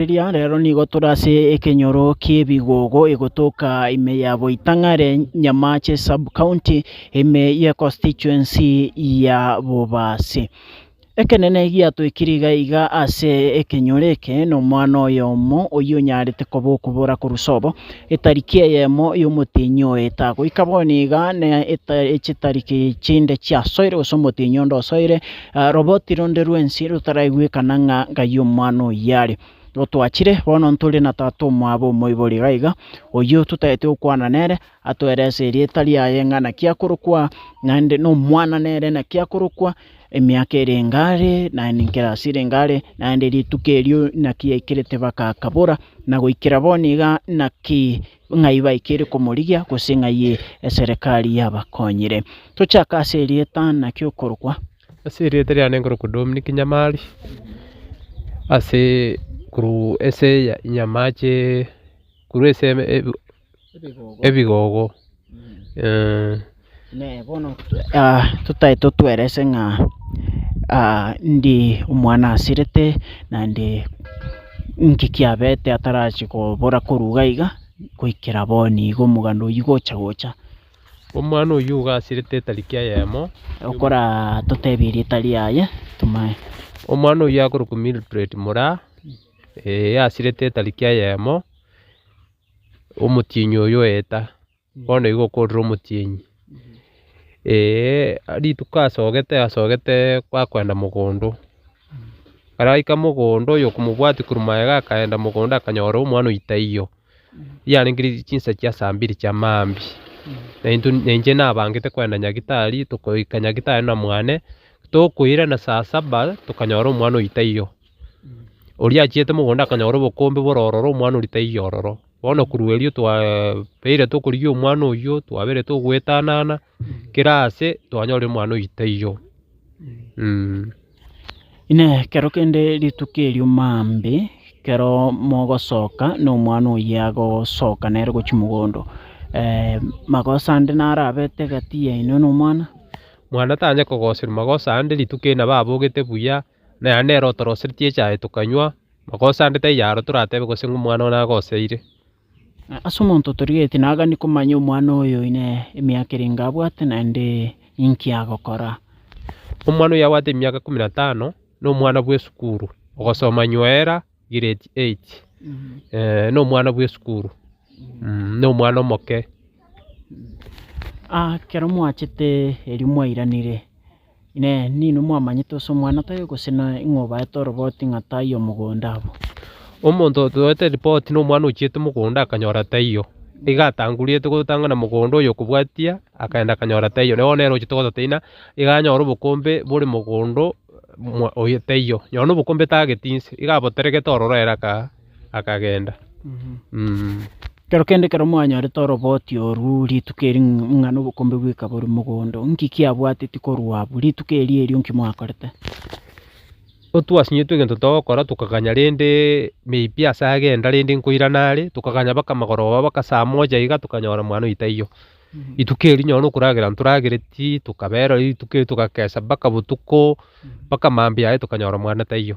Riria rero nigo tore ase ekenyoro ki'ebigogo egotoka ime ya Boitang'are, Nyamache Sub-County, ime ye Constituency ya Bobasi. Ekenene giatoikire iga iga ase ekenyoro eke nomwana oyomo oyio onyarete koba okobora korwa sobo, etariki eyemo y'omotienyi oye etagoika bono iga na echitariki chinde chiasoire gose omotienyi onde osoire, Roboti ronde rwensi rotaraigwekana ng'a ng'ai omwana oyio are. Gotwachire, bono ntore na tata omwabo omoibori iga iga, oyio totaete gokwana nere, atwerese erieta riaye ng'a naki akorokwa, naende nomwana nere naki akorokwa, emiaka ere enga are, naende nkere ase ere enga are, naende rituko erio naki yaikerete bakaakabora, na goikera bono iga naki ng'ai baikire komorigia, gose ng'ai eserekari yabakonyire. Tochake ase erieta, naki okorokwa. Ase erieta riane nkorokwa Dominic Nyamari, ase korwa ase Nyamache korwa ase ebigogo. bono totae totwerese ng'a ndi omwana asirete naende inki kiabete atarachia kobora korwa iga iga goikera bono iga omogano oyio gocha gocha. Omwana oyio iga asirete etariki eyemo. Okora totebie erieta riaye tomae. Omwana oyio akorokwa Milbred Muraa, ee asirete etariki eyemo, omotienyi oyio oeta. bono igo okorire omotienyi, rituko asogete asogete bakoenda mogondo, ekero aika mogondo oyo okomobwati korwa magega akaenda mogondo akanyora omwana oyio taiyo, yarenge chinsa chia saa mbiri chia maambia, na intwe na inche nabangete koenda nyagetari, tokoika nyagetari na mwane, tokoirana saa saba tokanyora omwana oyio taiyo, oria achiete mogondo akanyora obokombe bore ororo omwana oria taiyo ororo. Bono korwa erio twabeire tokorigia omwana oyio, twabeire togoetanana kera aase twanyorire omwana oyio taiyo. Inee! Ekero kende rituko erio maambia ekero mogosoka na omwana oyio agosoka nere gochia mogondo, magoso ande naro abete egati yaino na omwana? Mwana tanyare kogoserwa magoso ande rituko ere nabo abogete buya, na ere nere otoroseretie echae tokanywa, magoso ande taiyaro toratebe gose ng'a omwana oo nagoseire. Ase omonto otorigetie nagani komanya omwana oyo oine emiaka ere inga abwate, naende ninki agokora. Omwana oyio abwate emiaka ikomi na tano na omwana bw'esukuru, ogosoma nywera giredi eit, na omwana bw'esukuru, na omwana omoke. Ekero mwachete erio mwairanire. Inee! Ninwe mwamanyete ase omwana toiyo, gose ning'o obaete oroboti ng'a taiyo omogonda abwo? Omonto otoete ripoti nomwana ochiete mogondo akanyora taiyo, nigo atanguriete gotang'ana mogondo oyo okobwatia akaenda akanyora taiyo. Nere bono ochiete gototeina nigo anyore obokombe bore mogondo oyo taiyo. Nonya nobokombe tageti inse, nigo aboteregete ororo ere aka. akagenda. Ekero kende ekero mwanyorete oroboti orwo rituko eri ng'a nobokombe bw'eka bore mogondo, inki kiabwateti korwa abwo rituko eri erio inki mwakorete? Otwasinyetwe egento togokora tokaganya rende maybe ase agenda rende nkoirana are, tokaganya mpaka amagoroba mpaka saa moja iga tokanyora mwana oito taiyo. Rituko eri nonye na okoragera ntoragereti tokabera rituko eri togakesa mpaka botuko mpaka mambia aye tokanyora mwana taiyo.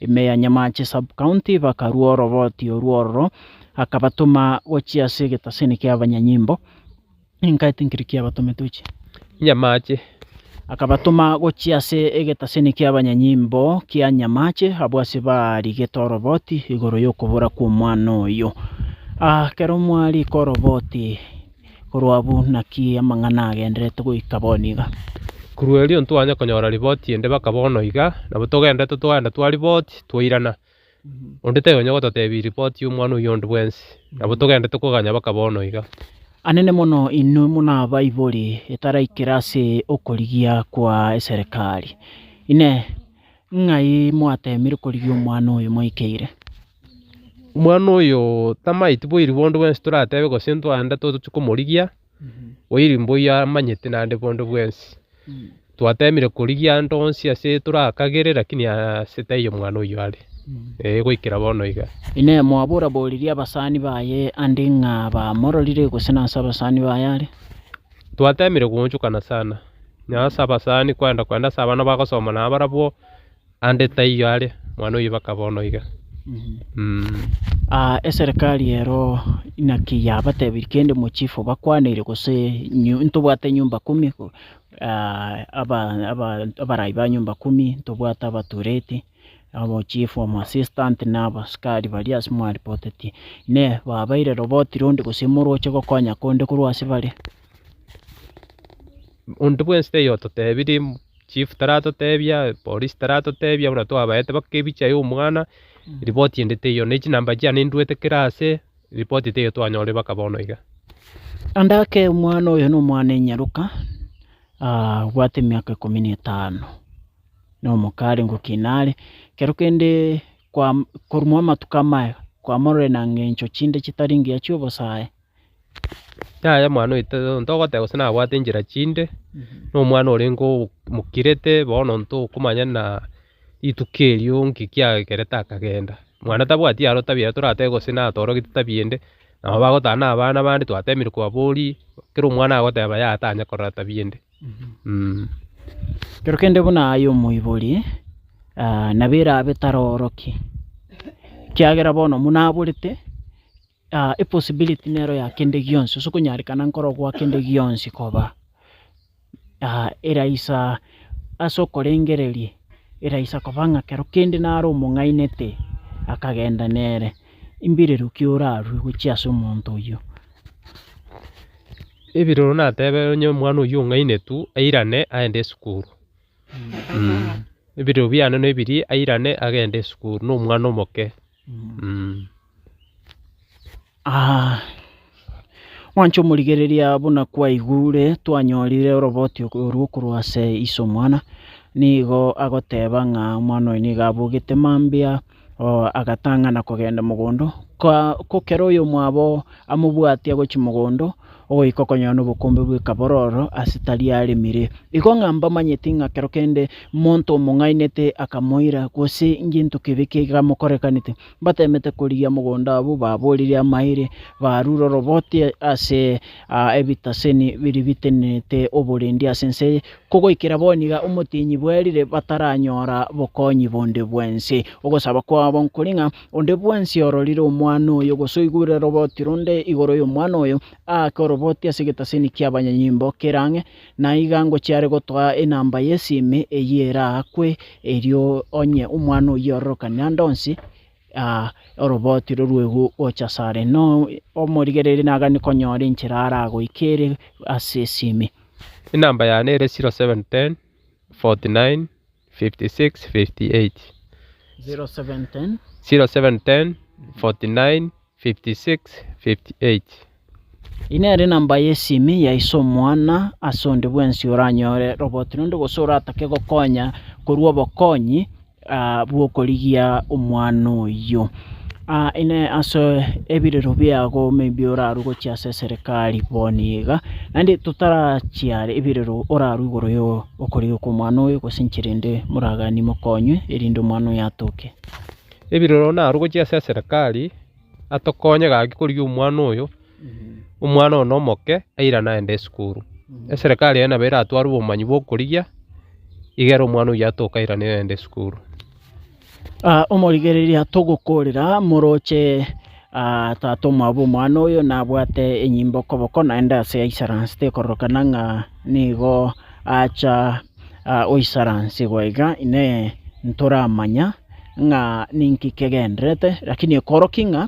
ime ya Nyamache Sub-County bakarua oroboti orwo ororo, akabatoma gochia ase egetaseni ki'abanyanyimbo. Inka etinkiri kiabatome tochie. Nyamache. Akabatoma gochia ase egetaseni ki'abanyanyimbo kia Nyamache, abwo ase baarigete oroboti igoro y'okobora kw'omwana oyo. Ekero mwariika oroboti. Korwa abwo naki amang'ana agendererete goika bono iga. Korwa erio ntwanya konyora riboti ende baka bono iga, nabo togendererete twaenda twariboti, twairana. Onde taiyo onya gototebia riboti y'omwana oyio onde bwensi, nabo togendererete koganya baka bono iga. Anene mono inwe monabaibori etaraikire ase okorigia kwa eserekari. Inee! Ng'ai mwateemire korigia omwana oyo moikeire? omwana oyo tamaeti boiri bondo bwensi toratebe gose ntwande tochi komorigia, oiri mboyo amanyete naende bondo bwensi. Twatemire korigia ande onsi ase torakagere lakini ase taiyo omwana oyio are, eh goikera bono iga. Inee! Mwaboraboreria abasani baye ande ng'a bamororire gose nase abasani baye are? Twatemire goonchokana sana, nonya ase abasani kwenda kwenda ase abana bagosoma nabarabwo. Aande taiyo are, mwana o ibaka bono iga. Eserekari ero naki yabatebirie kende mochifu bakwaneire gose ntobwate nyomba kumi abarai ba nyomba kumi ntobwate abatureti omochifu omoasisitant na abasikari baria ase mwaripotetie ne babaire robotiire onde gose moroche gokonya konde korwa ase bare. Onde bwensi taiyo ototebirie. chief taratotebia, polisi taratotebia buna twabaete mpaka ebicha ya omwana, ripoti ende teiyo, ne chinamba chiane nduete kera ase, ripoti teiyo twanyorire mpaka bono iga. Ande ake omwana oyo nomwana enyaruka, ah, obwate emiaka ikomi na etano, nomoka are ngokina are, ekero kende kwam- korumwa amatuko amaya, kwamororire na ng'encho chinde chitari ngiya chi'obosae, Yaya mwana oito ntogoteba gose nabwate nchera chinde, na omwana orenge omokirete bono ntokomanya na rituko erio nki kiagerete akagenda. Mwana tabwati aro tabia ere toratebe gose natorogete tabia ende, nabo bagotana na abana abande twatebirie kwaboria, kera omwana agoteba yaya tanya korora tabia ende mh. Kero kende buna aye omoibori nabo erabe tarorokia, ekiagera bono buna aborete. epossibility nero ya kende gionsi gose okonyarekana nkoro gwa kende gionsi koba eraisa ase okorengereria eraisa koba ng'a kero kende naro omong'ainete akagenda nere mbirero ki orarue gochia ase omonto oyio. Ebirero natebe onye omwana oyio ong'ainetu airane aende esukuru ebirero biane nebirie airane agende esukuru nomwana omoke. Mwanche omorigereria buna kwaigure twanyorire oroboti orwo korwa ase Isa omwana, nigo agoteba ng'a omwana oyo nigo abogete mambia agatang'ana kogenda mogondo, ko ekero oyomwabo amobwati agochia mogondo. ogoika okonyora nobokombe bwe kabororo ase tari aremire. Igo ng'a mbamanyeti ng'a kero kende monto omong'ainete akamoira, gose ngento kebe kegamokorekanete, mbatemete korigia mogondo abwo baborire amaire, barure oroboti ase ebitaseni biria bitenenete oborendi ase ense eye, kogoikera bono iga omotienyi bwerire bataranyora bokonyi bonde bwense. Ogosaba kwabo nkori ng'a. Onde bwensi ororire omwana oyo, gose oigwire roroboti ronde igoro y'omwana oyo, aake oroboti ase egetaseni ki'abanyanyimbo kere ang'e, na iga ngochia are gotoa enamba y'esimi eyio eraakwe, erio onye omwana oyio ororokane ande onsi, oroboti rorwegwe gocha ase are. Na omorigereria nagani konyora enchera aragoike ere ase esimi. Enamba yane ere 0710 49 Eye nere enamba y'esimi ya iso omwana ase onde bwensi oranyore roboti rinde gose oratake gokonya korwa obokonyi bw'okorigia omwana oyio. Ine ase ebirero biago maybe orarwe gochia ase eserekari bono iga naende totarachiare ebirero orarwe igoro. Okorigwa kw'omwana oyo, gose inche rende moraganie mokonywe, erinde omwana oyo atoke. Ebiroro naro gochia ase eserekari atokonye gaki korigia omwana oyo, omwana one omoke airane aende esukuru. Eserekari eye nabo eratware obomanyi bw'okorigia igere omwana oyio atoke airane aende esukuru. Omorigereria, togokoorera moroche tata omwabo omwana oyo nabwate enyimbe okoboko naende aase yaisaranse tekororokana ng'a nigo acha goisaransigwa iga inee ntoramanya ng'a ninki kegendererete lakini ekoroki ng'a.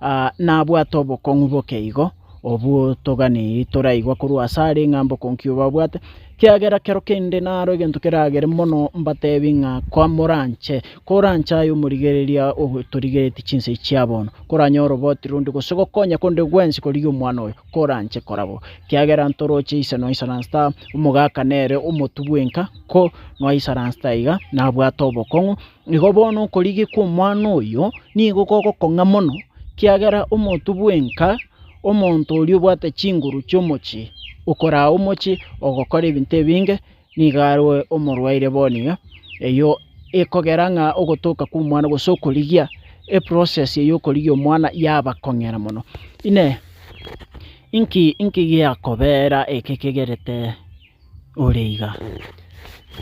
Aa, nabwate obokong'u boke igo, obwo toganeirie toraigwa korwa ase are ng'a mbokonki obo abwate, ekiagera kero kende naro egento keragere mono mbatebi ng'a komoranche, koranche aye omorigereria otorigeretie chinsa echi chia bono, koranyore oboti ronde gose gokonya konde gwensi korigia omwana oyo, koranche kora bo. Ekiagera ntoroche ise noisaransete aa, omogaka nere omotu bwenka, ko noisaransete aiga, nabwate obokong'u. Igo bono okorigekwa omwana oyo nigo kogokong'a mono, ekiagera omonto bwenka, omonto oria obwate chinguru chi'omochie, okoraa omochie ogokora ebinto ebinge, nigo arwe omorwaire bono iga. Eyio ekogera ng'a ogotoka kw'omwana gose okorigia, eprocess eywo y'okorigia omwana yabakong'era mono. Inee inki inki giakobera eke kegerete. ore iga.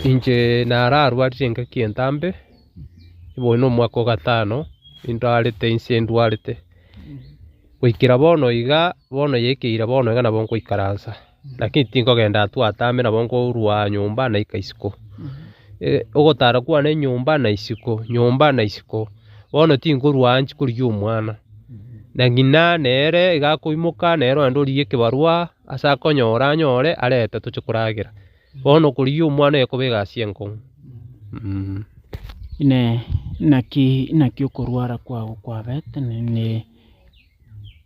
Inche nararwarire engaki entambe, oyo nomwaka o gatano indwarete inse ndwarete, goikera bono iga, bono yaikeire bono iga nabo nkoikaransa, lakini tinkogenda atu atame nabo nkorwa nyomba naika isiko. Ogotara kwane nyomba na isiko, nyomba na isiko, bono tinkorwa aa chikorigia omwana, na ng'ina nere iga akoimoka nere onde origia ekebarwa. Ase akonyora anyore arete toche koragera. Bono korigia omwana ekobe egasi enkong'u. Inee! Naki okorwara kwao kwabete,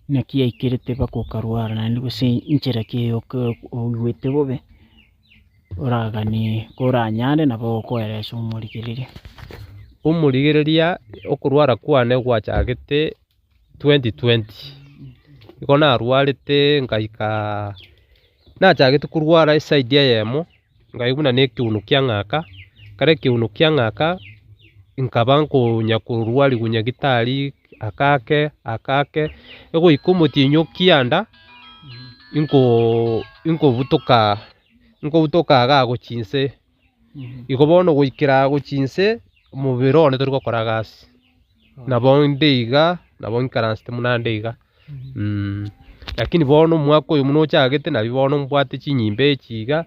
naki yaikerete mpaka okarwara naende? Gose nchera ki oigwete bobe oraganie koranyare nabo okoera ase omorigereria? Omorigereria, okorwara kwane gwachagete twenty twenty, nigo narwarete ngaika nachagete korwara eside eyemo nkaigwa buna nekiuno kiang'aka, ekero ekiuno kiang'aka nkaba nkonya korwarigwa nyagitari ake ake ake ake egoika omotienyi okianda inkoo inkobutoka inkobutoka iga agochia inse. Igo bono goikera agochia inse, omobere one tori gokora gasi. Nabo inde iga, nabo nkaransete buna ande iga. Lakini bono omwaka oyo buna ochagete nari bono mbwate chinyimba echi iga,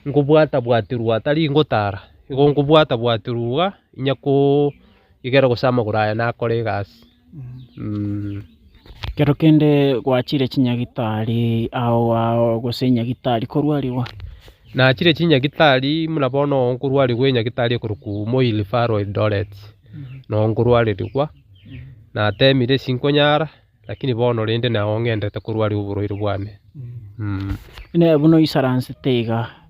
nkobwata bwaterwa atari ngotara, igo nkobwata bwaterwa iga, inya koo igere gose amagoro aya nakore egasi. Ekero kende gwachire chinyagitari ao ao gose enyagitari korwarigwa? Nachire chinyagitari buna bono nkorwarigwa enyagitari ekorokwa Moi Referral Eldoret, noo nkorwarerigwa, natemire sinkonyara lakini bono rende nao ng'endete korwarigwa oborwaire bwane. Buna oisaransete iga.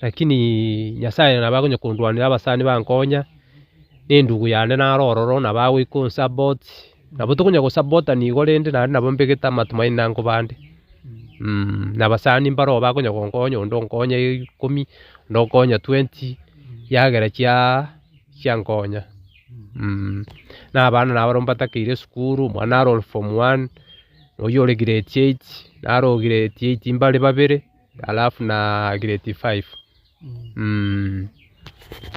Lakini Nyasae nabo agonyakondwanera abasani bankonya, na endugu yane naro ororo, nabo agoika onsupport. Nabo tokonya gosupportana igo rende naende nabo mbegete amatumaini nango bande. Na abasani mbaro aba bakonya gonkonya, onde onkonya ikomi, onde onkonya twenty, chiagera chia chiankonya. Na abana nabo barabwo mbatakeire esukuru, omwano naro ore form one, oyio ore grade eight, naro grade eight mbare babere. alafu na grade five mmh.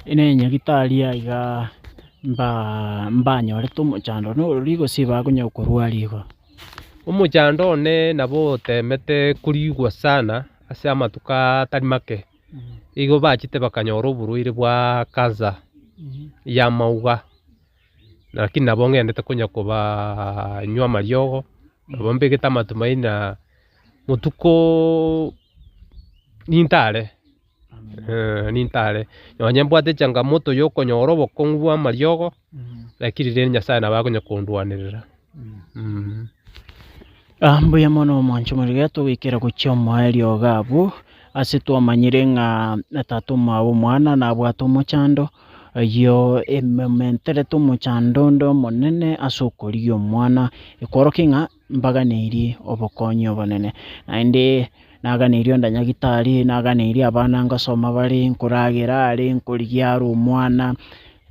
Inee enyagitari eye iga mbanyorete omochando one ororo igo gose bakonya korwa igo? Omochando one nabo otemete korigwa sana ase amatuko atari make igo bachete bakanyora oborwaire bwa cancer y'amauga lakini nabo ng'endete konya kobanywa amariogo nabo mbegete amatumaini na. botuko ninto are ninto are nonye mbwate changamoto ya okonyora obokong'u bw'amariogo lakini rende Nyasaye nabo akonya kondwanerera. Mbuya mono omwancho morigia togoikera gochia omoa eriogo abwo, ase twamanyire ng'a na tata omwabo omwana nabwate omochando, oyio emomenterete omochando onde omonene ase okorigia omwana, ekworokia ng'a mbaganeirie obokonyi obonene, naende naganeirie ondanyagitari, naganeirie abana ngosoma bare, nkoragera are, nkorigia are omwana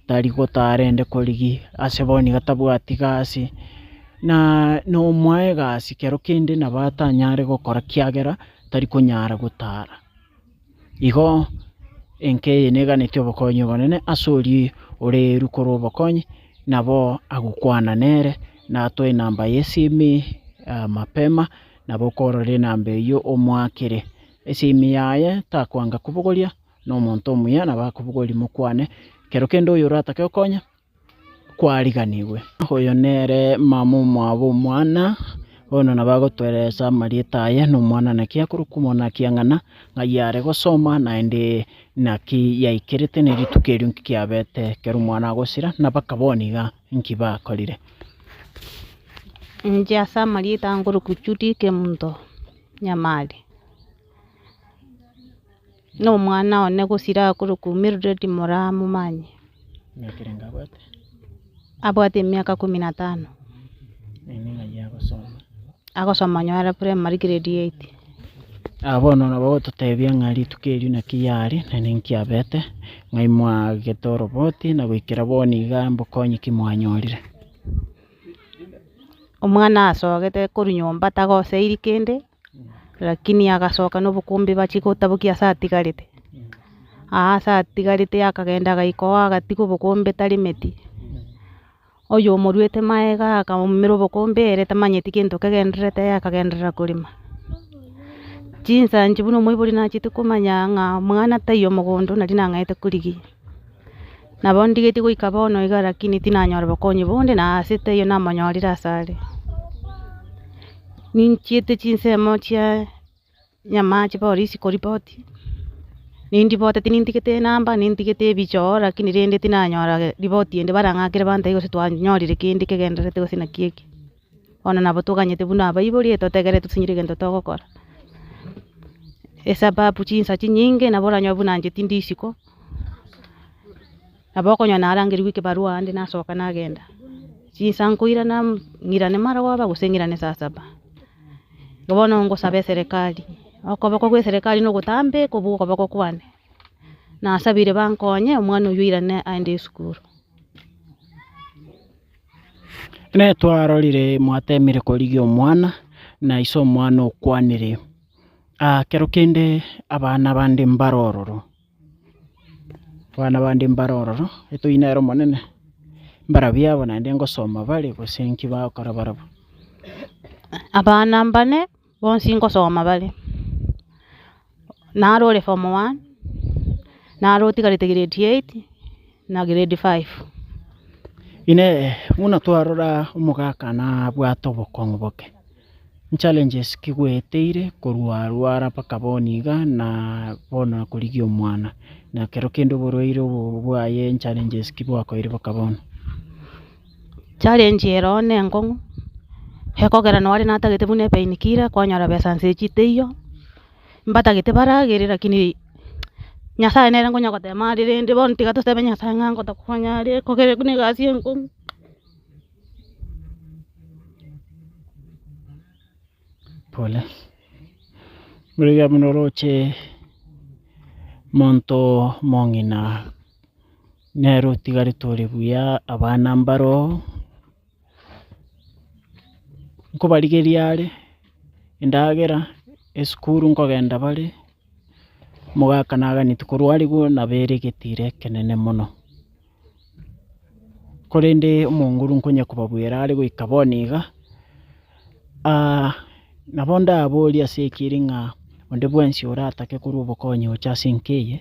tari gotaa arende korigia, ase bono nigo tabwati gasi, na nomoa egasi kero kende nabo atanyare gokora ekiagera tari konyara gotara. Igo enka eye neganeti obokonyi obonene ase oria ore eru korwa obokonyi, nabo agokwana nere, na atoe enamba y'esimi mapema, nabo okorora enamba eyio omoakere esimi yaye, takwanga kobogoria, na omonto omuya nabo akobogorie mokwane, ekero kende oyo oratake kokonya. kwariganigwe. Oyo nere mama omwabo omwana, bono nabo agotoereresa amarieta aye nomwana naki akorokwa omwana ekiang'ana ng'ai are gosoma naende naki yaikerete ne rituko erio nki kiabete ekero omwana agosira na baka bono iga nki bakorire. Inche ase amarieta nkorokwa Judy Kemunto Nyamari. Nomwana one gosira akorokwa Mildred moramomanye. Abwate emiaka ikomi na tano. Agosoma onye are primary grade eight. Bono na nabo ogototebia ng'a rituko erio naki yare na ninki yabete, ng'ai mwagete oroboti na goikera bono iga mbokonyi ki mwanyorire. Omwana asogete korwa nyomba tagoseiri kende. Lakini agasoka nobokombe bachia gotabokia ase atigarete, aa ase atigarete akagenda agaika oo agatiga obokombe taremeti, oyo omoruete magega akamoumera obokombe ere tamanyeti gento kegendererete ere akagenderera korema, chinsa inche buna omoibori nacheti komanya ng'a mwana taiyo mogondo nari nang'aete korigia. Nabo ndigetie goika bono iga lakini tinanyora bokonyi bonde, na aase taiyo namonyorire asare. Ninchiete chinsemo chia nyamache polisi koripoti, nindibote tinintigete enamba, nintigete ebichoo, lakini rende tinanyora ripoti ende barang'akere bantae gose twanyorire kende kegendererete gose naki eke. Bono nabo toganyete buna abaibori, etotegerere tosenyore egento togokora, esababu chinsa chinyinge nabo oranyore buna inche tindi isiko, nabo okonyora narangerigwe ekebarua ande nasoka nagenda, chinsa nkoirana ng'irane marogoba gose ng'irane saa saba. Igo bono ngosaba eserekari, okoboko gwa eserekari na ogotambe kobua okoboko kwane, nasabire bankonye omwana oyio oirane aende esukuru. Netwarorire mwatemire korigia omwana, na iso omwana okwanire, Aa kero kende abana bande mbare ororo, abana bande mbare ororo, etoina ere omonene, mbarabia abo naende ngosoma bare, gose nki bagokora barabwo. Abana mbane. Bonsi nkosoma bare, naro ore form one, naro otigarete grade eight na grade five. Inee! Buna twarora omogaka nabwate obokong'u boke? Nchallenges ki gweeteire korwa arwara mpaka bono iga na bono akorigia omwana? Na ekero kende oborwaire obo bwaye nchallenges ki bwakoeire mpaka bono? challenge ero nenkong'u, ekogera nonye natagete buna epain killer kwanyora besa nse echi teiyo, mbatagete baragere lakini nyasaye nere nkonya gotema are rende bono tiga tosebe nyasaye ng'a ngotokonya are ekogera buna egasi enkong'u. Pole, buna oroche monto mong'ina. Nere otigare tore buya abana mbaro oo, nkobarigeria are endagera, esukuru nkogenda bare, omogaka naganeti korwa arigwo nabo ere egetiro ekenene mono. Korende omonguru nkonya kobabuera are goika bono iga, aah nabo ndaborie ase ekeri ng'a onde bwensi oratake korwa obokonyi gocha ase enka eye.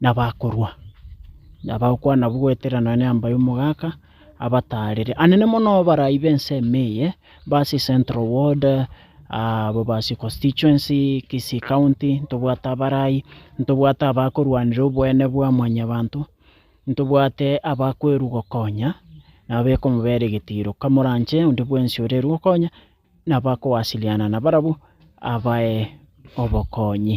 nabakorua, nabagokwana abwo goetera nonya neamba y'omogaka, abataarere anene mono abarai b'ense ime eye, mba ase central ward, abo base constituency, kisii county, ntobwate abarai, ntobwate abakorwanera oboene bwa mwanyabanto, ntobwate abakwerwa gokonya, nabo ekomobera egetiro, kamoranche onde bwensi ore ere gokonya. nabakowasiliana nabarabwo abae obokonyi.